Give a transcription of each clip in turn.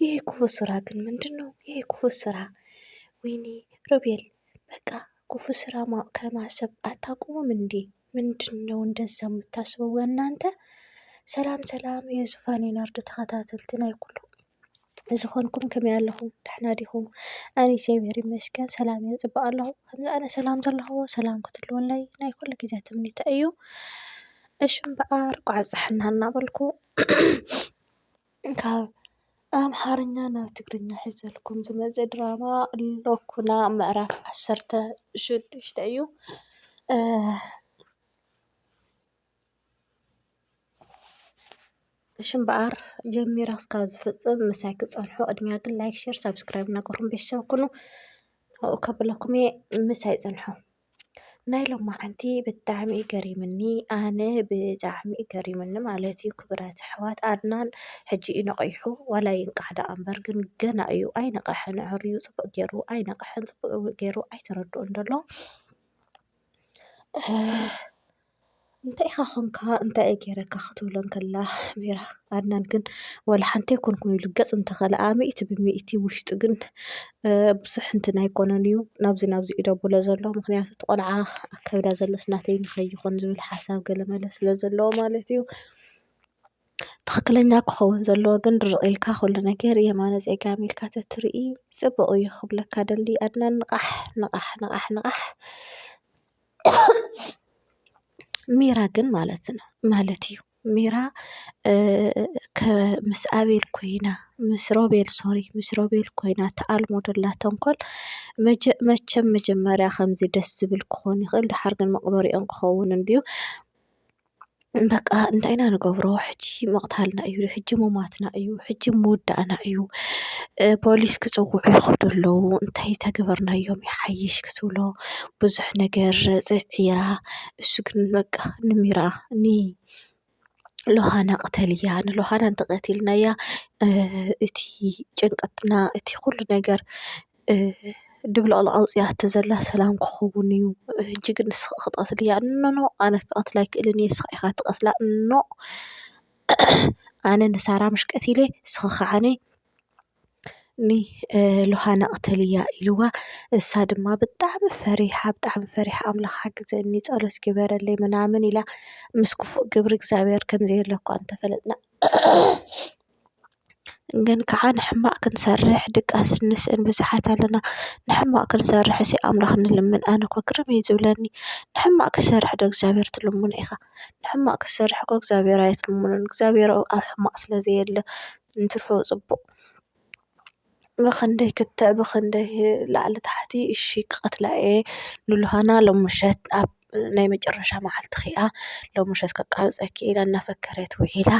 ይሄ ክፉ ስራ ግን ምንድን ነው? ይሄ ክፉ ስራ ወይኔ ሮቤል በቃ ክፉ ስራ ከማሰብ አታቁሙም እንዴ? ምንድን ነው እንደዛ የምታስበው እናንተ? ሰላም ሰላም የዙፋን ናርድ ተኸታተልቲ ናይ ኩሉ ዝኾንኩም ከመይ ኣለኹም ደሕና ዲኹም? ኣነ እግዚኣብሔር ይመስገን ሰላም እየ ፅቡቅ ኣለኹ። ከምዚ ኣነ ሰላም ዘለኹዎ ሰላም ክትህልወለይ ናይ ኩሉ ግዜ ትምኒተ እዩ። እሺ እምበኣር ቋዕ ኣብፀሐና እናበልኩ ካብ ኣምሓርኛ ናብ ትግርኛ ሒዘልኩም ዝመፀ ድራማ ሎኩና ምዕራፍ ዓሰርተ ሽዱሽተ እዩ። እሺ እምበኣር ጀሚረ ክሳብ ዝፍፅም ምሳይ ክፀንሑ ቅድሚያ ግን ላይክ፣ ሼር፣ ሳብስክራይብ እናገበርኩም ቤተሰብ ኩኑ ኣብኡ ከብለኩም እየ ምሳይ ፅንሑ። ናይ ሎማዓንቲ ብጣዕሚ እዩ ገሪምኒ ኣነ ብጣዕሚ እዩ ገሪምኒ ማለት እዩ ክብራት ኣሕዋት ኣድናን ሕጂ እዩ ነቒሑ ዋላ ይንቃሕ ደኣ እምበር ግን ገና እዩ ኣይነቕሐን ኣዐርዩ ጽቡቕ ጌሩ ኣይነቕሐን ጽቡቕ ጌሩ ኣይተረድኦን ደሎ። እንታይ ኢኻ ኾንካ እንታይ እየ ጌረካ ክትብሎ እንከላ ሜራ ኣድናን ግን ዋላ ሓንቲ ኣይኮንኩን ኢሉ ገጽ እንተኸልኣ ሚእቲ ብሚእቲ ውሽጡ ግን ብዙሕ እንትን ኣይኮነን እዩ ናብዚ ናብዚ እዩ ደብሎ ዘሎ ምኽንያቱ እቲ ቆልዓ ኣብ ከብዳ ዘሎስ ናተይ ንኸይኾን ዝብል ሓሳብ ገለ መለ ስለ ዘለዎ ማለት እዩ። ትኽክለኛ ክኸውን ዘለዎ ግን ድርቕ ኢልካ ኩሉ ነገር የማነ ጸጋም ኢልካ ተትርኢ ጽቡቕ እዩ ክብለካ ደሊ ኣድናን ንቓሕ ንቓሕ ንቓሕ ንቓሕ። ሜራ ግን ማለት ነው ማለት እዩ ሜራ ምስ ኣቤል ኮይና ምስ ሮቤል ሶሪ ምስ ሮቤል ኮይና ተኣልሞ ደላ ተንኮል መቸም መጀመርያ ከምዚ ደስ ዝብል ክኾን ይኽእል ደሓር ግን መቕበሪኦም ክኸውን እንድዩ። በቃ እንታይ ኢና ንገብሮ ሕጂ ምቕታልና እዩ ሕጂ ምሟትና እዩ ሕጂ ምውዳእና እዩ ፖሊስ ክጽውዑ ይኸዱ ኣለዉ እንታይ እንተገበርናዮም ይሓይሽ ክትብሎ ብዙሕ ነገር ጽዒራ እሱ ግን በቃ ንሚራ ን ሎሃና ቅተልያ ንሎሃና እንተቐቲልናያ እቲ ጭንቀትና እቲ ኹሉ ነገር። ድብልቕልቕ ኣውፂኣቶ ዘላ ሰላም ክኸውን እዩ ሕጂ ግን ንስኺ ክትቐትልያ እያ ኖኖ ኣነ ክቐትላ ኣይክእልን እየ ንስኻ ኢኻ ትቐትላ ኖ ኣነ ንሳራ ምሽ ቀቲለ ንስኺ ከዓኒ ንሎሃና ቅተልያ ኢልዋ እሳ ድማ ብጣዕሚ ፈሪሓ ብጣዕሚ ፈሪሓ ኣምላኽ ሓግዘኒ ጸሎት ግበረለይ ምናምን ኢላ ምስ ክፉእ ግብሪ እግዚኣብሔር ከምዘየለ እኳ እንተፈለጥና ግን ከዓ ንሕማቅ ክንሰርሕ ድቃስ እንስእን ብዙሓት ኣለና ንሕማቅ ክንሰርሕ እስኪ ኣምላክ ንለምን ኣነ እኮ ግርም እዩ ዝብለኒ ንሕማቅ ክትሰርሕ ዶ እግዚኣብሔር ትልምኖ ኢካ ንሕማቅ ክትሰርሕ እኮ እግዚኣብሔር ኣይትልምኖን እግዚኣብሔር ኣብ ሕማቅ ስለ ዘየለ እንትርፎ ፅቡቅ። ብኽንደይ ክትዕ ብኽንደይ ላዕሊ ታሕቲ እሺ ክቐትላ እየ ንሉሃና ሎም ምሸት ኣብ ናይ መጨረሻ መዓልቲ ኺኣ ሎም ምሸት ከቃብጸኪ ኢላ እናፈከረት ውዒላ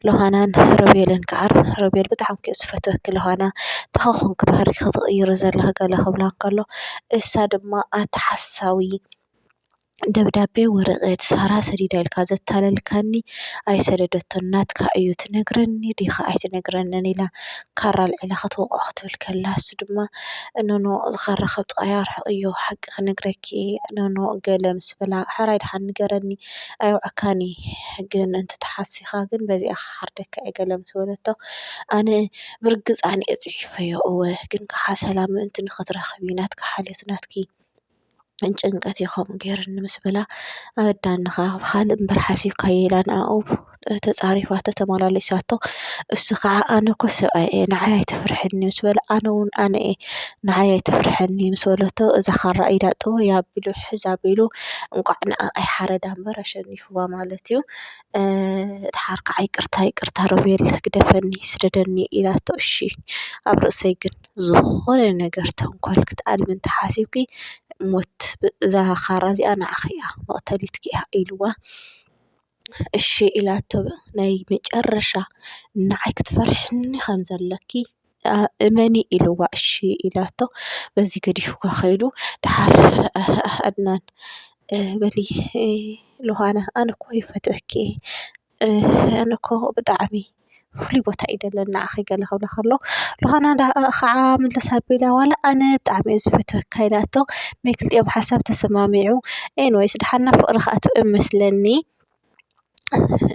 ሎሃናን ሮቤልን ከዓ ሮቤል ብጣዕሚ ክኣ ዝፈትወኪ ሎሃና እንታይ ኾንኪ ባህርይኪ ትቕይሪ ዘለኺ ገለ ክብላ እንከሎ እሳ ድማ ኣታ ሓሳዊ ደብዳቤ ወረቀት ሳራ ሰዲዳ ኢልካ ዘታለልካኒ ኣይሰደደቶን ናትካ እዩ ትነግረኒ ዲኻ ኣይትነግረንን ኢላ ካራ ኣልዒላ ክትወቕዖ ክትብል ከላ ንሱ ድማ ኖኖ እዚ ካራ ካብ ጥቃይ ኣርሕቂ እዮ ሓቂ ክነግረኪ ኖኖ ገለ ምስ በላ ሕራይ ድሓን ንገረኒ ኣይወዓካን እየ ግን እንተተሓሲኻ ግን በዚኣ ክሓርደካ እየ ገለ ምስ በለቶ ኣነ ብርግጽ ኣነ እየ ጽሒፈዮ እወ ግን ካሓ ሰላም ምእንቲ ንኽትረኽቢ ናትካ ሓልዮት ናትኪ ጭንቀት እዩ ከምኡ ገይሩኒ ምስ በላ ኣወዳኒ ኸኣ ኣብ ኻልእ እምበር ሓሲብካዮ ኢላ ንኣኡ ተጻሪፋ ተተመላሊሳቶ እሱ ኸኣ ኣነ እኮ ሰብኣይ እየ ንዓይ ኣይተፍርሕኒ ምስ በላ ኣነ ዉን ኣነ እየ ንዓይ ኣይተፍርሕኒ ምስ በለቶ እዛ ኻራ ኢዳ ጥዉይ ኣቢሉ ሕዝ ኣቢሉ እንቋዕ ንኣ ኣይሓረዳ እምበር ኣሸኒፍዋ ማለት እዩ እቲ ሓር ኸኣ ይቅርታ ይቅርታ ሮቤል ግደፈኒ ስደደኒ ኢላቶ እሺ ኣብ ርእሰይ ግን። ዝኾነ ነገር ተንኮል ክትኣልሚ እንተሓሲብኪ ሞት እዛ ኻራ እዚኣ ንዓኺ እያ መቕተሊትኪ እያ ኢልዋ እሺ ኢላቶ ናይ መጨረሻ ንዓይ ክትፈርሕኒ ኸም ዘለኪ እመኒ ኢልዋ እሺ ኢላቶ በዚ ገዲፍዋ ኸይዱ ደሓር ኣድናን በሊ ሉሃና ኣነ እኮ ይፈትወኪ እየ። ኣነ እኮ ብጣዕሚ ፍሉይ ቦታ እዩ ደለኒ ንዓኺ ገለ ክብሎ ከሎ ሉሃና ኻዓ ምልስ ኣቢላ ዋላ ኣነ ብጣዕሚ እየ ዝፈትወካ ኢላቶ ናይ ክልቲኦም ሓሳብ ተሰማሚዑ ኤኒወይስ ዳሓን ናብ ፍቅሪ ክኣትው እዩ መስለኒ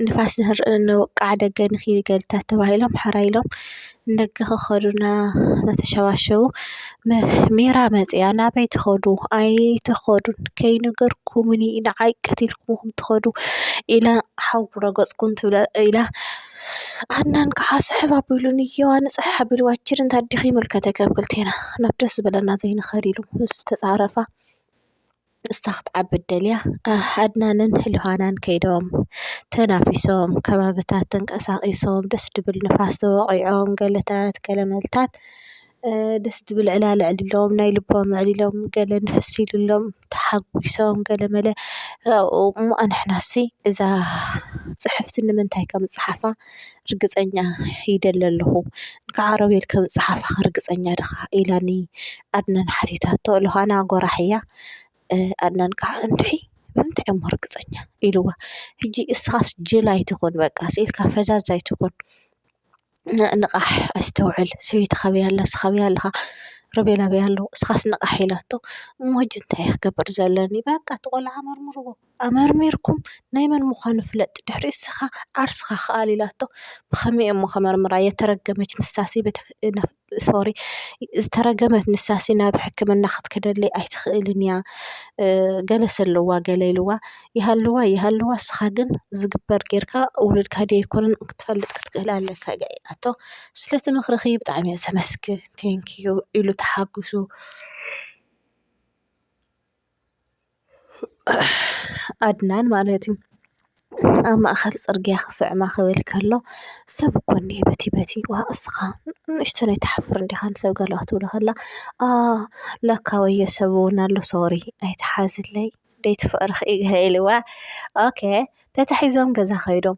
ንፋስ ንክንርኢ እንበቅዕ ደገ ንኪድ ኢልካ ተባሂሎም ሕራይ ኢሎም። ንደገ ክኸዱ እናተሸባሸቡ ሜራ መፂኣ ናበይ ትኸዱ ኣይትኸዱን ከይነገርኩምን እዩ ንዓይ ቀቲልኩምኹም ትኸዱ ኢላ ሓዊ ረገፁ ኩን ትብላ ኢላ ሃናን ከዓ ስሕብ ኣቢሉኒ እየዋ ንፅሕሕ ኣቢልዋ ችድ እንታይ ድኺ ይምልከተኪ ኣብ ክልቴና ናብ ደስ ዝበለና ዘይንኸድ ኢሉ ምስ ተፃረፋ። ንሳ ክትዓብድ ደልያ ኣድናንን ሉሃናን ከይዶም ተናፊሶም ከባብታት ተንቀሳቂሶም ደስ ድብል ንፋስ ተወቂዖም ገለታት ገለ መልታት ደስ ድብል ዕላል ኣዕሊሎም ናይ ልቦም ኣዕሊሎም ገለ ንፍስ ኢሉሎም ተሓጉሶም ገለ መለ እሞ ኣንሕናሲ እዛ ጽሕፍቲ ንምንታይ ከም ዝጸሓፋ። ርግጸኛ ይደሊ ኣለኹ እንካዕ ዓረብ ኢልኪ ምጽሓፍኪ ርግጸኛ ዲኻ ኢላኒ ኣድናን ሓቲታቶ ዮሃና ጎራሕ እያ ኣድናን ካኣ እንድዒ ብምንታይ እሞ ርግጸኛ ኢልዋ ሂጂ እስኻስ ጅል ኣይትኹን በቃ ኢልካ ፈዛዝ ኣይትኹን ንቓሕ ኣስተውዕል ሰበይቲ ካበይ ኣላ ንስኻ ኣበይ ኣለኻ ሮቤል ኣበይ ኣሎ እስኻስ ንቓሕ ኢላቶ እሞ ሂጂ እንታይ እየ ክገብር ዘለኒ በቃ እቲ ቆልዓ መርምርዎ። ኣመርሚርኩም ናይ መን ምዃኑ ፍለጥ ድሕሪ ንስኻ ዓርስኻ ክኣል ኢላቶ ብኸመይ እየሞ ከመርምራ የተረገመች ንሳሲ ሶሪ ዝተረገመት ንሳሲ ናብ ሕክምና ክትከደለይ ኣይትኽእልን እያ ገለሰ ኣለዋ ገለ ኢልዋ ይሃልዋ ይሃልዋ ንስኻ ግን ዝግበር ጌርካ ውሉድካ ድዩ ኣይኮነን ክትፈልጥ ክትክእል ኣለካ ኢላቶ ስለቲ ምኽርኺ ብጣዕሚ እየ ዘመስግን ቴንኪው ኢሉ ተሓጉሱ። ኣድናን ማለት እዩ። ኣብ ማእኸል ፅርግያ ክስዕማ ክብል ከሎ ሰብ እኮ እኒሀ በቲ በቲ ዋእ እስኻ ንእሽተን ኣይትሓፍርን ዲኻ ንሰብ ገለ ክትብሎ ከላ ኣህ ለካ ወዮ ሰብ እውን ኣሎ ሶሪ ኣይትሓዝለይ ደይትፍቅርኺ እዩ ገለ ኢልዋ ኦኬ ተታሒዞም ገዛ ከይዶም።